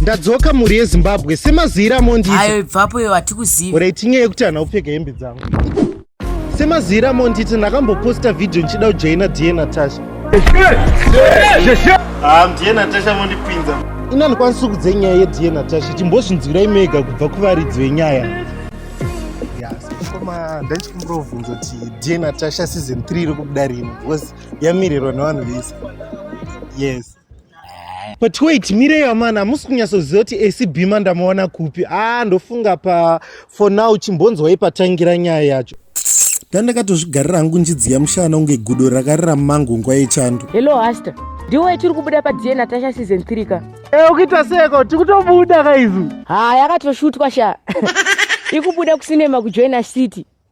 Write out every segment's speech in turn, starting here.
ndadzoka mhuri yezimbabwe semaziiro amondiita ayo ibvapo iyo hatikuzivi ora itinye yekuti hana kupfeka hembe dzangu semaziiro amondiita ndakamboposta vhidhiyo ndichida kujaina da natasha ah, mda natasha mondipinza ini andikwanisi kudze nyaya yeda natasha chimbozvinzwirai mega kubva kuvaridzi venyaya koma ndaichikumira kuvhunza kuti da natasha season 3 iri kubuda rini because yamirirwa nevanhu vese yes but wait mirei amana hamusi kunyatsoziva kuti ac bima ndamuona kupi aa ah, ndofunga pa for now chimbonzwai patangira nyaya yacho ndandakatozvigarira hangu njidziya mushana kunge gudo rakarira mumango nguva yechando hello haster ndiwe tiri kubuda padna natasha season 3 ka e ukuita seko tiri kutobuda kaizu ha yakatoshutwa sha ikubuda kusinema kujoina city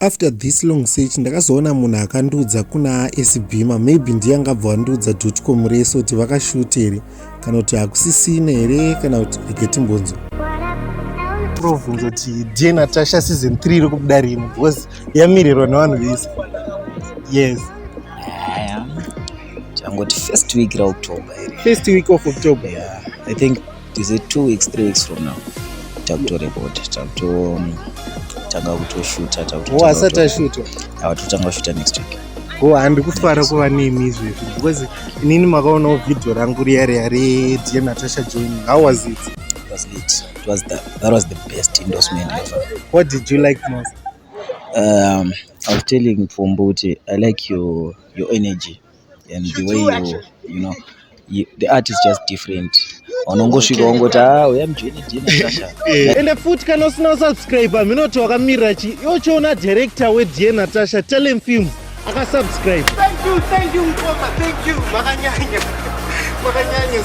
after this long search ndakazoona munhu akandiudza kuna asbima maybe ndiye angabva wandiudza dotcom rese kuti vakashuta here kana kuti hakusisina here kana kuti reketimbonzo provunza kuti die natasha season 3 iri kubuda rini because yamirirwa nevanhu vese yes changoti first week raoctober first week of october yeah. i think is it two weeks three weeks from now takutorekota takutotanga um, kutoshuta takutoasati ashuta ava totanga kushuta next week ko handi kufara kuva nemi izvezvi because inini makaonawo vhidhiyo rangu riya riya redear natasha joining how was it it was lit it was the, that was the best endorsement ever what did you like most um, i was telling pfumbu kuti i like your, your energy and the way you, you know you, the art is just different unongosvika wongoti a ah, uya mujeni dnasasha eh, ende futi kana usina kusubscribe minoti wakamirira chi yochiona director wedn natasha telem films akasubscribe thank you thank you mkoma thank you makanyanya makanyanya